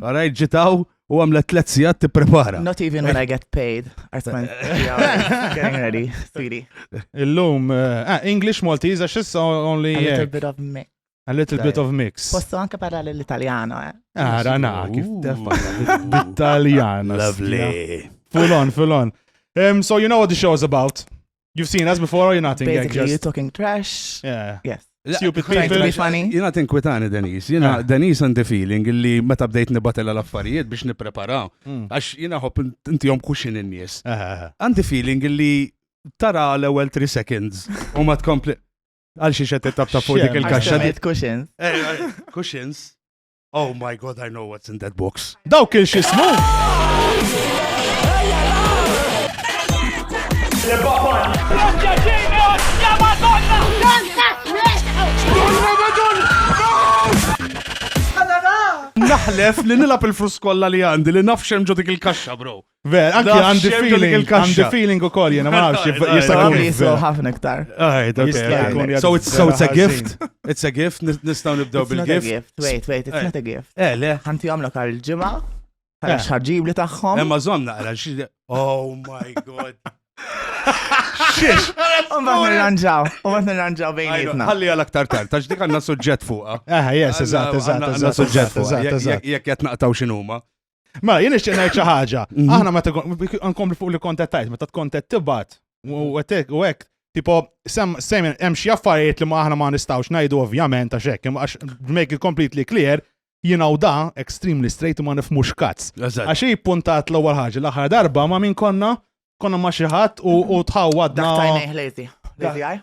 Għarajt ġitaw u għamlet tlet sijat t-prepara. Not even when I get paid. Artman, getting ready, sweetie. Illum, eh, ah, English, Maltese, għax issa only. A little bit of mix. A little bit of mix. Posso anche parlare l-Italiano, eh? Ah, rana, kif Italiano. Lovely. Full on, full on. Um, so you know what the show is about. You've seen us before or you're not in Basically, just... you're talking trash. Yeah. Yes. Stupid people. Funny. Jina tinkwitani Denise. Jina Denise and the feeling li meta bdejt nibatella l-affarijiet biex nipreparaw. Hmm. Għax jina hopp inti jom kuxin in-nies. Għandi feeling li tara l-ewel 3 seconds u ma tkompli. Għal xie xed tabta fuq dik il-kaxxa. Kuxins. Eh, eh, kuxins. Oh my god, I know what's in that box. Daw kien xismu! Naħlef li nilab il-frus kolla li għandi li nafxem ġodik il-kaxxa, bro. Ver, anki għandi feeling, għandi feeling u koll, jena maħx, jista' jkun jislu ħafna iktar. So it's a gift, it's a gift, nistaw nibdew bil-gift. Wait, wait, it's not a gift. Eh, le. Għanti għamlok għal ġimma, għal xħarġib li taħħom. Emma zomna, għal xħarġib. Oh my god. Xiex! Umbat nirranġaw, umbat nirranġaw bejnietna. Għalli għal aktar tard, tax dik għanna suġġett fuqa. Eh, yes, eżat, eżat, eżat, suġġett fuqa. Jek jatnaqtaw xinuma. Ma, jien ixtieq ngħid xi ħaġa. Mhm. Aħna meta nkompli fuq li kontettajt, meta tkontet tibgħat u għetek u hekk, tipo sem hemm xi affarijiet li ma aħna ma nistgħux ngħidu ovvjament għax hekk, għax make it completely clear, jien hawn da extremely straight ma nifmux kazz. Għax hi puntat l-ewwel ħaġa l-aħħar darba ma min konna konna ma xi ħadd u tħawwadna. Tajnejh lejti. Lejti għaj?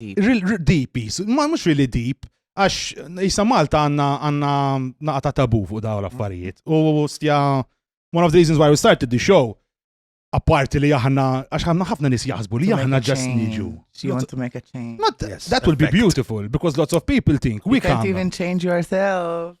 Deep, ma mux really deep, għax jisa Malta għanna għanna naqta tabu fuq daw l-affarijiet. U stja, one of the reasons why we started the show, apparti li aħna, għax ħanna ħafna nis jaħsbu li aħna ġas niġu. You want to make a change. Not, yes, that will be beautiful, because lots of people think we can't. You can't even change yourself.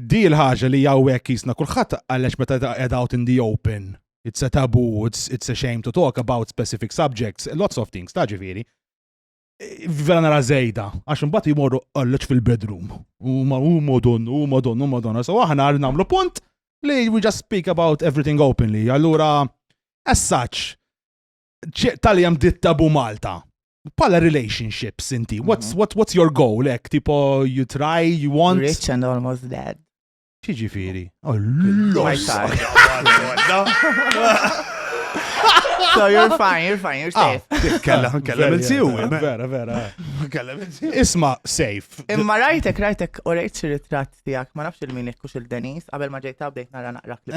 Di l-ħaġa li hawnhekk jisna kulħadd għalex meta qed out in the open. It's a taboo, it's, it's a shame to talk about specific subjects, lots of things, ta' ġifieri. E, vera nara zejda, għax imbagħad jmorru għalleċ fil-bedroom. U ma u modon, u modon, u modon. So aħna għal namlu punt li we just speak about everything openly. Allura, as such, tal-jem ditta bu Malta. Pala relationships inti, what's, mhm. what, what's your goal? Ek, tipo, you try, you want. Rich and almost dead. Ċiġifiri. Oh, l-los. So you're fine, you're fine, you're ah, safe. Kella, kella minn siw. Vera, vera. Kella minn siw. Isma, safe. Imma rajtek, rajtek, u rejt xi ritratt tijak, ma nafx il-min ikkux il-Denis, qabel ma ġejta bdejt nara naqrak li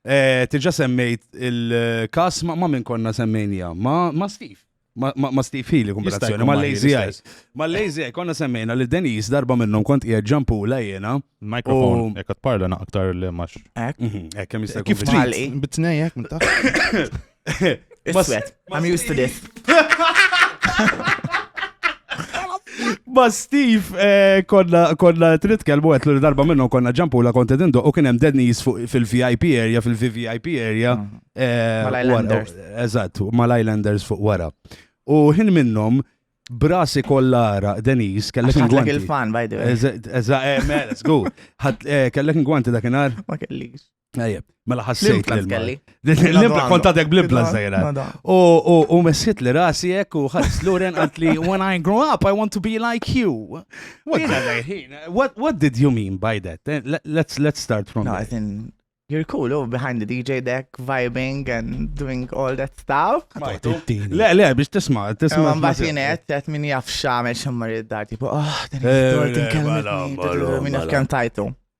Eh, tiġa semmejt il-kas ma' minn konna semmejnija, ma' Steve. Ma' Steve Healy kumbinazzjoni, ma' Lazy Eye. Ma' Lazy Eye konna semmejna li Denis darba minnhom kont qiegħed ġampula jiena. Mikrofon, jekk qed parla naqtar li max. Hekk, mhm, hekk kemm jista' Kif trid? Bitnejjek minn taħt. Iswed, I'm used to this. Ma Steve eh, konna konna tritkelmu għet l darba minnu konna ġampu la konti dindu u kienem dead knees fil-VIP area, fil-VIP area. Mm. Eh, Mal-Islanders. Eżatt, mal-Islanders fuq wara. U hin minnom brasi kollara Denise kellek ingwanti. il-fan, by the way. Eżatt, eh, mela, sgu. Kellek ingwanti dakinhar? Ma kellix. Tajjeb, mela ħassejt li kelli. L-impla kont għadek blibla zajra. U messit li rasi jek u ħares Loren għant li when I grow up I want to be like you. What, what did you mean by that? Eh, let's, let's start from no, there. You're cool, oh, behind the DJ deck, vibing and doing all that stuff. Le, le, biex tisma, tisma. Ma batinet, għet min jaf xamel xammar id-dar, tipo, oh, din il-dor, din kelmet, min jaf kem tajtu.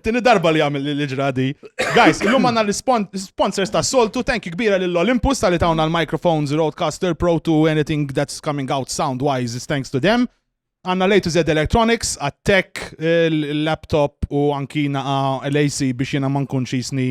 Tini darba li għamil li ġradi. Guys, illum għanna l-sponsors ta' soltu, thank you kbira l-Olympus tal-li tawna l-microphones, Roadcaster, Pro 2, anything that's coming out sound-wise is thanks to them. Għanna lejtu zed electronics, għat-tech, l-laptop u anki naqa l-AC biex jena man kunx jisni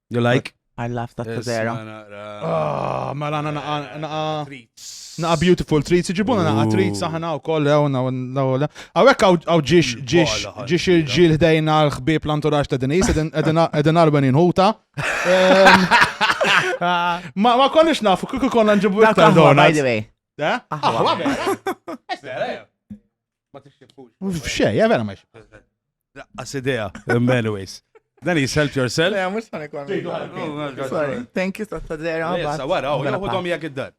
You like? I love that Tazera. Ah, mela għana naqa naqa naqa beautiful treats, ġibuna naqa treats aħna u koll ew nawla. Għawek għaw ġiex ġiex ġiex il-ġil ħdejna l-ħbib l-anturax ta' dinis, edin arben inħuta. Ma konniex nafu, kuku konna nġibu iktar donuts. By the way. Eh? Ah, F'xej, ja vera max. Laqqas idea, anyways. Dan is help yourself. Ja, mux għan ikon. Thank you, Tata Dera. Sa wara, u jgħodhom jgħak id-dar.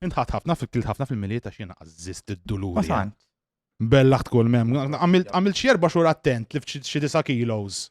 Intħat ħafna fil-kilt ħafna fil-miliet għax jena għazzist id-dulur. Bella tkun mem. Għamil xierba xur attent li f'xi disa kilos.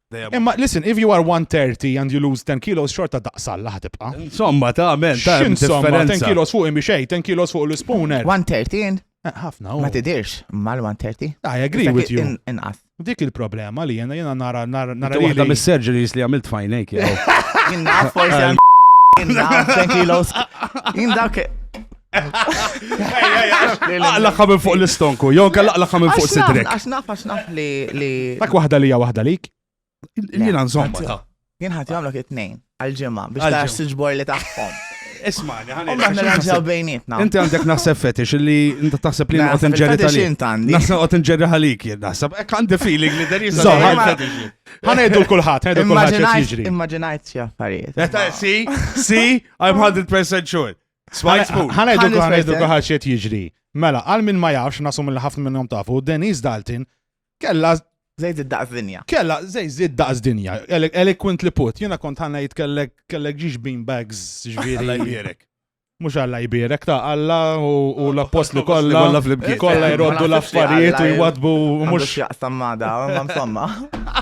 Imma listen, if you are 130 and you lose 10 kilos, xorta daqsal laħ tibqa. Insomma, ta' men, ta' X'in somma, 10 differenza. kilos fuq imi xej, 10 kilos fuq l-spooner. 113 Eh, Ħafna, u. ma tidirx mal-130. I agree Dak with you. in- Inqas. Dik il-problema li jena jena nara nara nara Nara waħda li. mis-surgeries li għamilt fajnejk, jew. Jien naf forsi għan- jien naf 10 kilos. Jien dak Laqlaqa minn fuq l-istonku, jew kell laqlaqa minn fuq sidrek. Għax naf, għax naf li. Dak waħda li waħda lik. Jien nżomma ta. Jien ħati għamlok it-tnejn għal-ġimma biex ta' s-sġbor li taħħom. Ismani, ħani. Umma nirranġaw bejnietna. Inti għandek naħseb fetix li inti taħseb li għot nġerri tal-li. Naħseb għot nġerri għalik jien naħseb. Ek għandi feeling li deri zaħar. Ħana jiddu l-kulħat, ħana jiddu l-kulħat. Immaġinajt xie affarijiet. Si, si, I'm 100% sure. Smajt fuq. Ħana Ħan eduka nisma' eduka jistek. ħax qed jiġri. Mela, għal min ma jafx nasu mill ħafna minnhom tafu, Denise Dalton kella Zejt id-daqs dinja. kella zej zid daqs dinja, ele- eloquently put, jiena kont ħanna jitkellek kellek ġiex bean bags ġviri. Alla jbierek. Mux għalla jbirek ta' għalla u u l-appostli L-appostli kollha kollha flimkien. kollha jroddu Ma naħsibx li l-affarijiet u Alla jwadbu u Mhux mux. jaqsam ma da, ma msomma.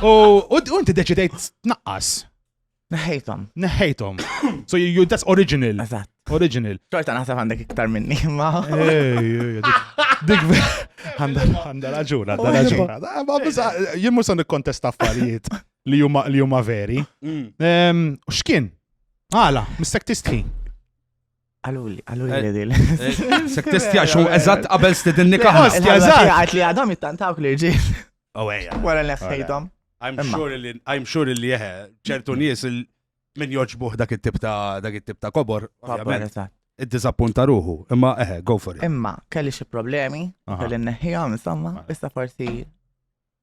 U u inti deċidejt tnaqqas. Neħħejthom. Neħħejthom. So you that's original. Eżatt. Original. Xorta naħseb għandek iktar minni, ma. Dik għandha raġuna, għandha raġuna. Eh, jien mhux se nikkontesta affarijiet li huma li huma veri. Mm. X'kien? Għala, mistek tistħi. Għaluli, għaluli li dil. Sek testja xo, eżat qabel stidinni kaħna. Eżat, għat li għadhom jittantawk li rġil. Oh, eja. Wara neħħejdhom. I'm sure li, I'm sure li jeħe, ċertu nies min joġbuħ dak it-tip ta' dak it-tip ta' kobor. Id-dizappunta ruħu, imma eħe, go for it. Imma, kelli xi problemi, kelli neħħijom, insomma, issa forsi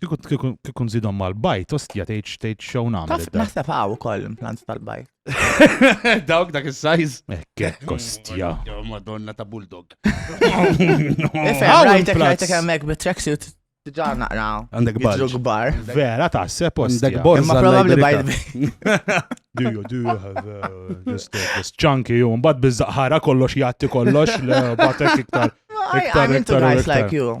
Kikun zidom mal-bajt, ostja tgħid tgħid xew nagħmel. Naħseb hawn ukoll implant tal-bajt. Dawk dak is-sajż. Ekkek kostja. Madonna ta' bulldog. Rajtek rajtek hemmhekk bit-tracksuit Diġa naqra. Għandek bar. gbar. Vera ta' se post. Għandek bar. Ma probabli bajt. Do you, do you have uh, just, uh, just chunky you? Mbad bizzaqħara kollox jatti kollox, batek iktar. Iktar, iktar, iktar. like you.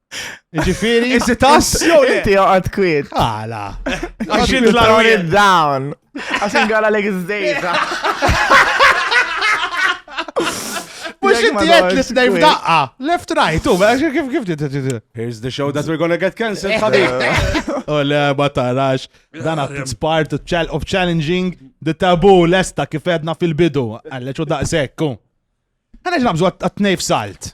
Ġifiri. Is it us? Inti għad kwiet. Għala. Għax int l down. Għax ingħala l izdejza. Mux inti għed li t-nej f'daqqa. Left right, u, għax kif kif t Here's the show that we're gonna get cancelled, ħabib. U le, ma tarax. Dan għat part of challenging the taboo lesta kif edna fil-bidu. Għalleċu daqsek, u. Għanna ġnabżu għat-nej f'salt.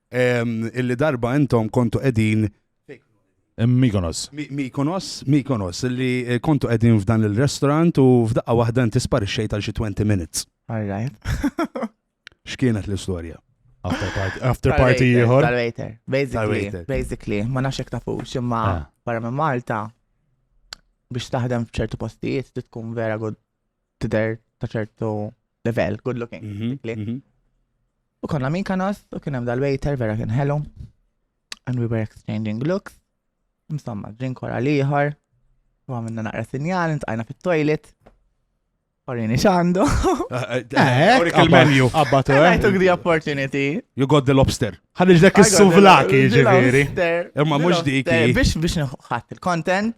illi darba intom kontu qegħdin Mikonos. Mikonos, Mikonos, li eh, kontu qegħdin f'dan il-restaurant u f'daqqa waħda inti sparixxejt għal xi 20 minutes. All right. X'kienet l-istorja? After party, after party ieħor. Tal-waiter. Basically, basically, ma nafx hekk tafux, imma ah. barra minn Malta biex taħdem f'ċertu postijiet tkun vera good tidher ta' ċertu level, good looking. Mhm, mhm. U konna min kanos, u kien hemm dal-waiter vera kien hello. And we were exchanging looks. Insomma, drink wara liħor. U għamilna naqra sinjal, intqajna fit-toilet. Orini xandu. Orik il-menu. Abbatu, eh? I took the opportunity. You got the lobster. Ħanġ dak is-suvlaki, ġiviri. Imma mux dik. Biex biex nħat il-content.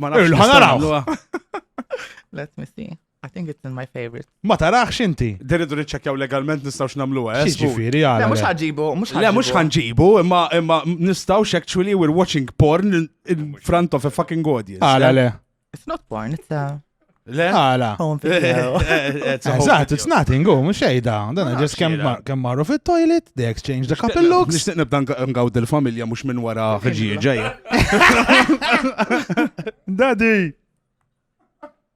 Ma nafx. Irlu ħanaraw. Let me see. I think it's in my favorite. Ma tarax inti. Diridu niċċekjaw legalment nistgħux nagħmluha, eh? Ġifieri għal. Le mhux ħanġibu, mhux ħanġibu. Le mhux ħanġibu, imma imma nistgħux actually we're watching porn in front of a fucking audience. Għala eh? le. It's not porn, it's a Le? Għala. Eżatt, it's nothing, go, mux xejda. Dan ġes kem marru fit toilet they exchange the couple looks. Nishtiq nibda ngawd il-familja mux minn wara ħġi ġeja. Daddy!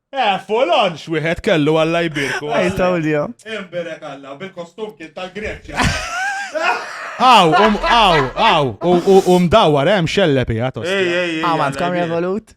Eh, folon xwieħed kellu għalla jbirku. Ej, tawlja. Imberek għalla, bil-kostum kien tal-Greċja. Aw, um, aw, aw, u mdawar, hemm eh, xellepi, għatos. Ej, ej, ej. Għamant, kam revolut?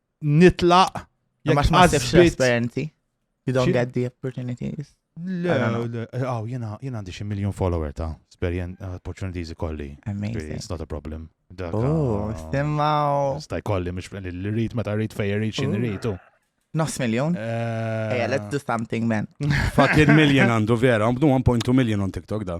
nitlaq. Ma xmaħsibx l-esperienzi. You don't get the opportunities. Le, le, għaw, jena għandi xie miljon follower ta' experience uh, opportunities ikolli. Amazing. It's not a problem. Oh, uh, stemmaw. Staj kolli, mish l-rit, ma ta' rit fej rit xin ritu. Nos miljon? Eh, Eja, let's do something, man. Fucking miljon għandu vera, għamdu 1.2 miljon on TikTok da.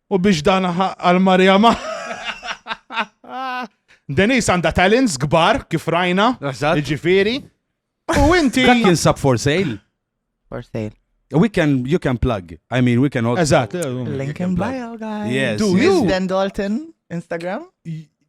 U biex dan għal Marija ma. Denis għanda talents gbar kif rajna. Ġifiri. U inti. Dak jinsab for sale. For sale. We can, you can plug. I mean, we can all. Eżat. Link in bio, guys. Yes. Do you? Dan Dalton, Instagram.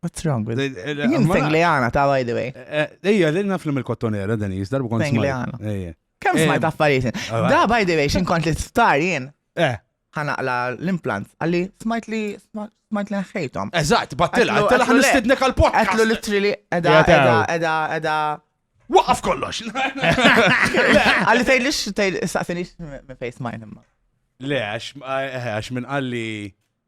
What's wrong with it? Jien Fengliana ta' by the way. Ejja, li naf li mill-kottonera, Denis, darbu kont. Fengliana. Ejja. Kemm smajt affarijiet. Da by the way, xin kont l-isptar jien. Eh. Ħanaqla l-implant. Għalli, smajt li smajt li nħejtom. Eżatt, battila, għattila ħan nistidnek għal-pot. Għatlu litri li edha, edha, edha, edha. Waqaf kollox. Għalli tgħid lix tgħid saqsini me face mine imma. Le, għax minn għalli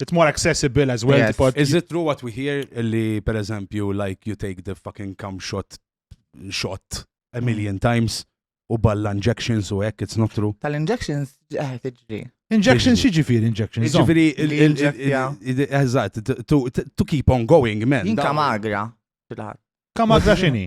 It's more accessible as well. Yes. Is it true what we hear li per eżempju like you take the fucking cum shot shot a million times u balla injections u hekk it's not true. Tal-injections eh tiġri. Injections xi ġifieri injections? Ġifieri eżatt to keep on going man. Inka magra. Kamagra x'inhi?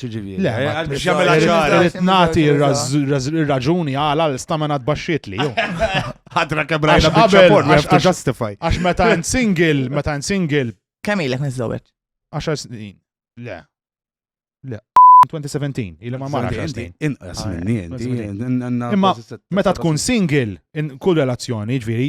Ċiġifieri. Le, eh, biex jagħmilha ċara. Irid nagħti r-raġuni għala l-istamena tbaxxiet li jew. Ħadra kemm rajna bieċaport, ma jaftu justify. Għax meta n single, meta n single. Kemm ilek niżżewweġ? 10 snin. Le. Le. 2017, il ma marra xastin. Inqas ah, minni, Imma meta tkun single, in kull relazzjoni, ġviri,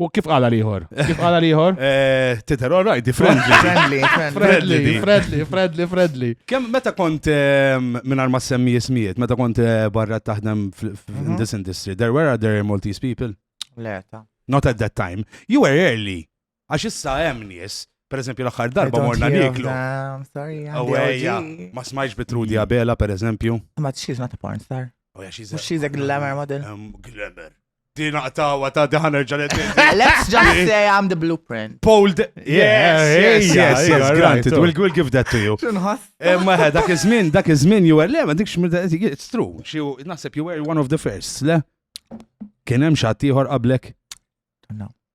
U kif għala liħor? Kif għala liħor? Eh, Titer, all right, friendly. Friendly, friendly, friendly, friendly, friendly. Kem meta kont ehm, minn arma semmi jismijiet, meta kont eh, barra taħdem mhm. in this industry, there were other Maltese people? Le, ta. Not at that time. You were early. Għax issa hemm nies Per eżempju, l-axar darba morna niklu. Għawajja, ma smajx bitrudi għabela, per eżempju. Ma t-xiz ma t-porn star. Oh, yeah, she's a, she's a glamour model. Um, glamour. Din naqtawa ta' diħan erġa' Let's just say I'm the blueprint. Pold. Yes, yes, yes, yes, granted. We'll, we'll give that to you. Eh, ma eh, dak iż-żmien, dak iż-żmien you were le, ma dikx it's true. Xi naħseb you were one of the first, le? Kien hemm xi ieħor qablek? No.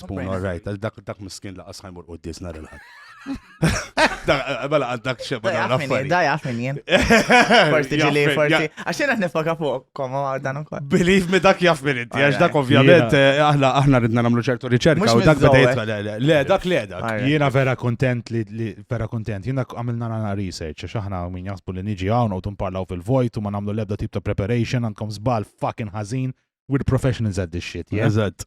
Spoon, all right, dak dak miskin laqas ħajmur u disna l-ħad. Bala għaddak xeba da għafini. Da għafini jen. Forti ġili, forti. Għaxin għat nifoka fuq, koma għardan ukoll. Believe me dak jafmin inti, għax dak ovvjament, eh, aħna aħna ridna namlu ċertu riċerka u dak beda le, dak le dak. Jena vera kontent li vera kontent, jena għamilna għana research, għax aħna min jasbu li niġi għawna u tumparlaw fil-vojt u ma namlu lebda tip ta' preparation, għandkom zbal fucking ħazin, we're professionals at this shit, yeah? Eżatt.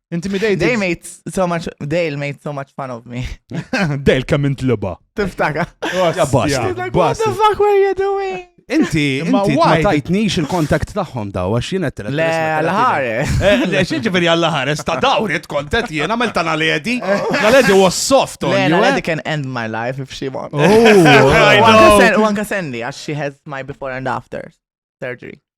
Intimidated. They made so much, Dale made so much fun of me. Dale kemm intliba. Tiftaka. Ja basta. Like, what the fuck were you doing? Inti, inti ma tajtnix il-kontakt tagħhom daw, għax jien qed Le, l-ħare. Eh, le, xi ġifieri għall-ħare, sta dawri tkontet jien għamel ta' naledi. Naledi was soft on you. Naledi eh? can end my life if she wants. Oh, u anka sendi għax she has my before and after surgery.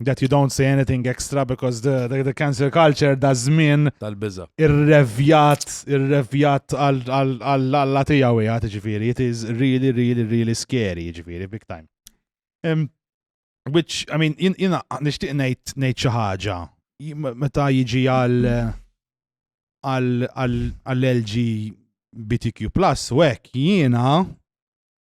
that you don't say anything extra because the, the, the cancel culture da żmien tal-biża. Irrevjat, irrevjat għall-alla tiegħu jgħat ġifieri, it is really really really scary ġifieri big time. Um, which I mean jiena nixtieq ngħid ngħid xi ħaġa meta jiġi għal għall-LGBTQ plus u hekk jiena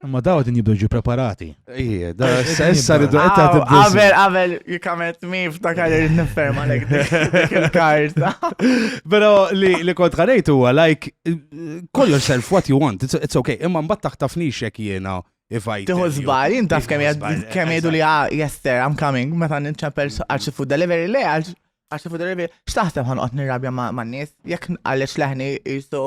Ma daw din jibdu ġi preparati. Ije, da s-sessa ridu għetta t Għavel, għavel, jikamet mi ftakar li niffer ma lek il-karta. Pero li kont għanajt huwa, like, call yourself what you want, it's okay, imma mbatt taħtafni xek jena. Tiħu zbal, jintaf kem jgħidu li ah, jester, I'm coming, meta nċempel għarċi food delivery, le għarċi food delivery, xtaħseb għanqot nirrabja ma' nis, jek għalix leħni jistu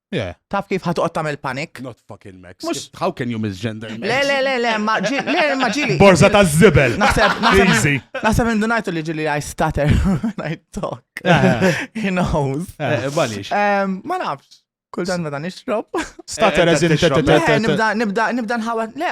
Yeah. Taf kif ħatoqgħod tagħmel panik? Not fucking Max. Mux... How can you misgender Max? Le, le, le, le, ma ġili, le, ma ġili. Borza ta' zibel. Naħseb, naħseb, naħseb indunajtu li ġili I stutter when I talk. He knows. Eh, eh, Balix. Ma nafx. Kull dan meta nixrob. Stutter eh, as in Nibda, nibda, nibda nħawet. Le,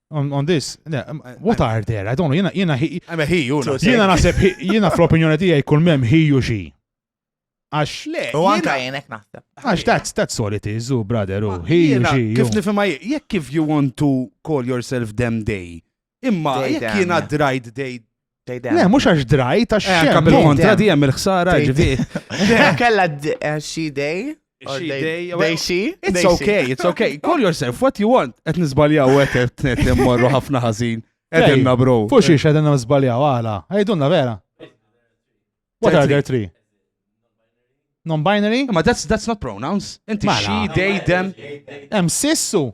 on, on this, what are there? I don't know, jena, jena, jena, jena, jena nasib, jena fl-opinjoni tijaj kull mem ħiju xi. Għax, le, u għanka jenek naħseb. Għax, that's, that's all it is, u brother, u ħiju xi. Kif nifima, jek kif you want to call yourself them day, imma jek jena dried day Le, mux għax drajt, għax xem. Għax kontra di għem il-ħsara ġivi. Kella eh, she day. She day. Day she. It's okay, it's okay. Call yourself what you want. Et nizbaljaw għet et net morru ħafna ħazin. Edenna bro. Fuxi xie edenna nizbaljaw għala. Ejdunna vera. What are there three? Non-binary? Ma that's, that's not pronouns. Inti she, they, them. Em sissu.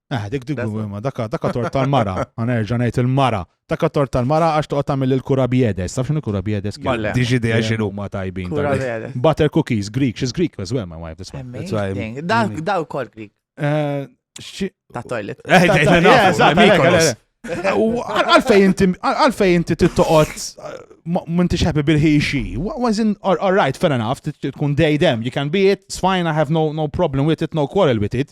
Eh, dik dik ma daka daka tor tal-mara, għanerġa ngħid il-mara. Daka tor tal-mara għax toqgħod tagħmel il-kura biedes, taf x'inhu kura biedes? Diġi dejja x'inhu ma tajbin. Butter cookies, Greek, she's Greek as well, my wife. That's why. Dawk mm. kol Greek. Eh, ta' toilet. Eh, eh, għalfej inti, għalfej inti tittoqot, minti xħabi bil-ħiexi. Was in, all right, fair enough, tkun day dem, you can be it, it's fine, I have no, no problem with it, no quarrel with it.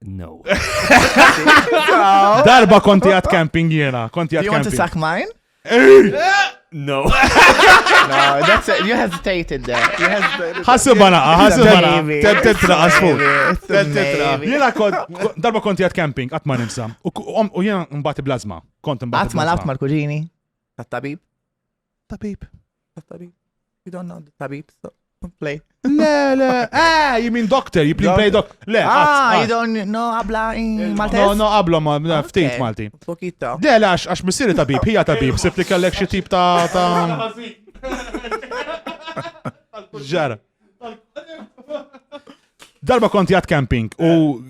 No. Darba konti għat camping jena, konti għat camping. You want to suck mine? No. no, that's it. You hesitated there. You hesitated. Ħassu bana, ħassu bana. Ted tetra, għasfu. Ted tetra. Jena kont, darba konti għat camping, għatma nimsa. U jena mbati blazma. Kont mbati. Għatma labt mal-kuġini. Tat-tabib. Tabib. Tabib. You don't know the tabib, so play. Le, le, eh, you mean doctor, you play play doctor. Le, ah, you don't know abla in Maltese? No, no, abla ma, ftit Malti. Pokita. Le, le, għax missiri tabib, hija tabib, sifti kellek xie tip ta' ta' ġara. Darba konti għat camping u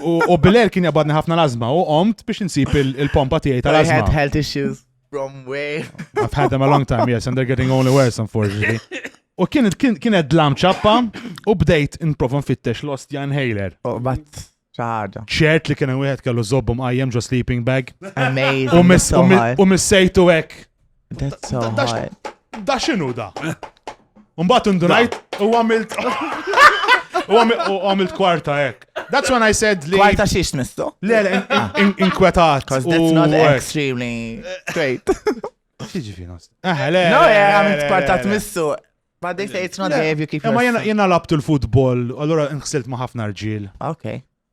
u bilel kien jabadni ħafna lazma u omt biex nsib il-pompa tiegħi tal-azma. I had health issues. from where? I've had them a long time, yes, and they're getting only worse, unfortunately. U kien kienet dlam ċappa u bdejt inprova nfittex lost Jan Haler. Oh, but ċaħġa. ċert li kienu wieħed kellu zobbum għajem ġo sleeping bag. Amazing. U miss- that's so u mi- high. u missejtu hekk. That's so Da- da- high. Da xinu da? Mbagħad indunajt u għamilt. U għamilt kwarta hekk. That's when I said li. Kwarta xiex tmistu? Le, le, ah. inkwetat. Because that's not extremely straight. Xieġi fi nost. Ah, le. No, għamilt kwarta tmissu. But they say it's not there if you keep. Ma jena labtu l-futbol, allora nħsilt ma ħafna rġil. Okay.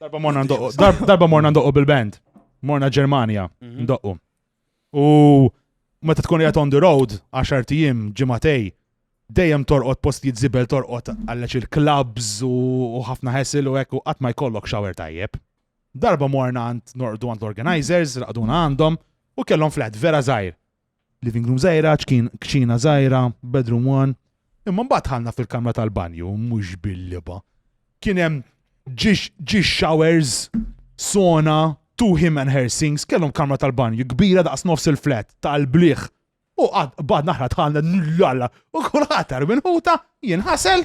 Darba morna ndoqqu, darba morna ndoqqu bil-band. Morna Ġermanja, mhm. ndoqqu. U meta tkun jgħat on the road, 10 tijim, ġimatej, dejjem torqot post jitzibel torqot għalleċ il-klabs u ħafna ħesil u ekku għat ma jkollok xawer tajjeb. Darba morna għand norqdu għand l-organizers, raqduna għandhom u kellhom flat vera zaħir. Living room żgħira, kċina żgħira, bedroom one. Imma mbagħad ħalna fil-kamra tal-banju, mhux bil-liba. Kien hemm ġi showers, sona, two him and her sinks, kellhom kamra tal-banju, kbira daqs nofs il-flat, tal-bliħ. U bad naħra tħalna l-lalla, u kull ħatar minn ħuta jinħasel.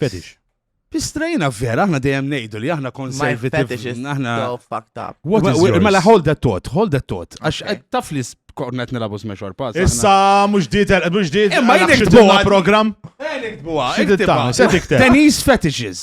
Fetish. Istrejna vera, aħna dejjem ngħidu li aħna konservative. Aħna fucked up. Mela hold that thought, hold that thought. Għax taf li kornet nilabu smash or pass. Issa mhux dietel, mhux dietel. Imma jien iktbuha program. Jien iktbuha. Xi tiktibha? Se tikteb. Denise fetishes.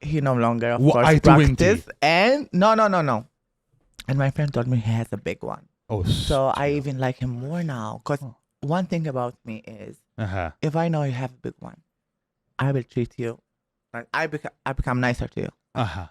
he no longer of course Waqajtu inti. practice and no no no no and my friend told me he has a big one Oh, so I even like him more now because Oh. one thing about me is Aha. if I know you have a big one I will treat you like I, beca- I become nicer to you Aha.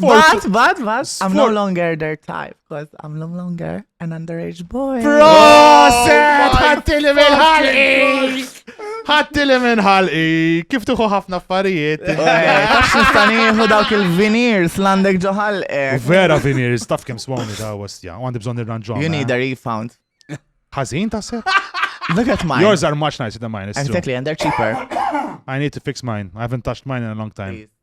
But, but, but, I'm no longer their type, because I'm no longer an underage boy. Proset! Ħattili minn ħalqi! Ħattili minn ħalqi! Kif tuħu ħafna affarijiet? Tax nistaniħu dawk il-veneers l-għandek ġoħalqi. Vera veneers, taf kem swawni ta' għastja, għandi bżon il-ranġom. You need a refund. Ħazin ta' sepp? Look at mine. Yours are much nicer than mine. Exactly, and they're cheaper. I need to fix mine. I haven't touched mine in a long time. Please.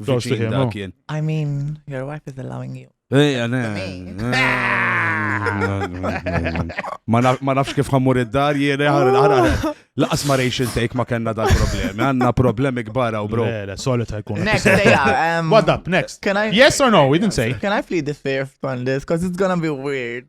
Viċin da kien. I mean, your wife is allowing you. Ejja, ne. Ma nafx kif ħammur id-dar jiena ħarri l-ħarri. Laqas ma rejx il-take ma kena dal problemi. Għanna problemi kbar u bro. Le, solita jkun. Next, um, What up, next? Can I, yes or no? We didn't say. Can I plead the fifth on this? Because it's gonna be weird.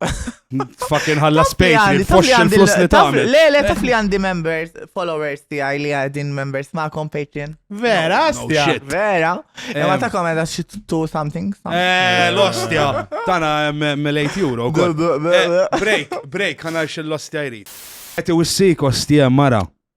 Fucking ħalla space li tfoxx il-flus li tagħmel. Le, le, taf li għandi members, followers tiegħi li għadin members ma' Patreon. Vera, stja. Vera. Ma ta' komenda xi two something. Eh, l-ostja. Tana mill-8 euro. Eh, break, break, ħana xil-lostja jrid. Għeti wissik ostja mara.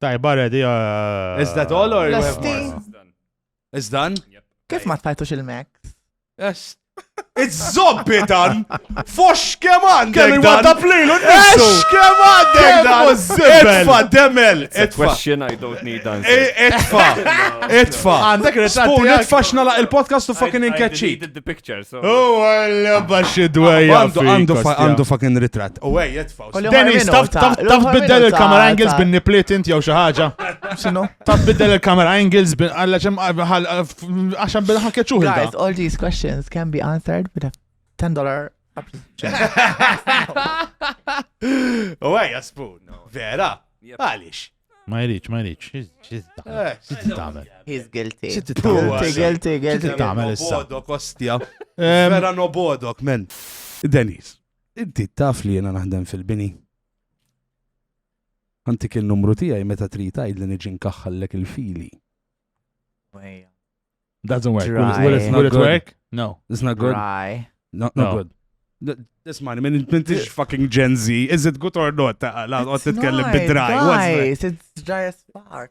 Tajba ready. Uh, Is that all or Is done? Kif ma tfajtux il-Mac? Yes. Iż-zobbitan! Fox kemm għandek! Kemm il-wadda plilu n-nisu! Kemm għandek dan! Itfa, demel! Itfa! Question I don't need answer. E, itfa! Itfa! Għandek ritratti. Spoon, itfa xnala il-podcast u fucking inkeċċi. the picture, so. Oh, għalla baxi dwejja. Għandu fucking ritrat. U għaj, itfa. Dennis, taf biddel il-camera angles bin nipliet inti jew xi ħaġa. X'inhu? Taf biddel il-camera angles bin għalla ċem għaxan bil ħakja ċuħi. Guys, all these questions can be answered with a $10 U għaj, spoon. Vera? Għalix. Ma jridx, ma jridx. Xit tagħmel? He's guilty. Xit tagħmel? Guilty, guilty. Xit tagħmel issa? Bodok, ostja. Vera no bodok, men. Denis. Inti taf li jiena naħdem fil-bini. Antik in-numru tiegħi meta trid tgħidli niġi nkaħħallek il-fili. Doesn't work. Dry. Will, it, will it work? No. It's not good. Dry. No, not no. good. Ismani, minn mintix fucking Gen Z, is it good or not? La, għot titkellem bid-dry. Guys, it's dry as fuck.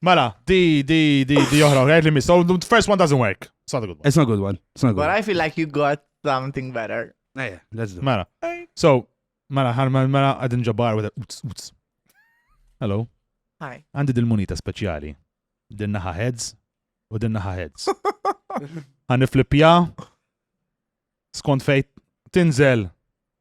Mela, di, di, di, di oħra, għajt li miss. So, the first one doesn't work. It's not a good one. It's not a good one. It's not a good But one. I feel like you got something better. Ejja, let's do. Mela. So, mela, ħar mela, mela, għadin ġabar with a uts, uts. Hello. Hi. Għandi dil-munita speċjali. Dinna ħa heads u dinna ħa heads. Għan niflipja. Skont fejt tinżel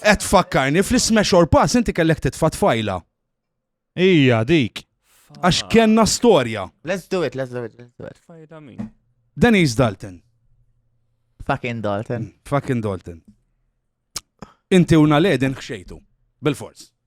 Qed tfakkarni fl-isma xor pass inti kellek titfa' tfajla. Ija, dik. Għax kenna storja. Let's do it, let's do it, let's do it. Fajda min. Denise Dalton. Fucking Dalton. Mm, fucking Dalton. Inti una ledin xejtu. Bil-fors.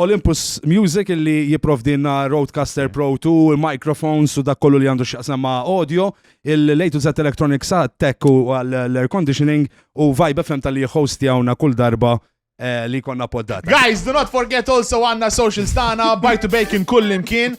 Olympus Music illi jipprovdilna Rodecaster Pro 2, il-microphones u dak kollu li għandu x'jaqsam ma' audio, il-A to Z Electronics għat-tech u għall-air conditioning u Vibe FM talli jihhostjawna kull darba li jkollna poddata. Guys, do not forget also għandna s-socials tagħna, Bite to Bacon kullimkien.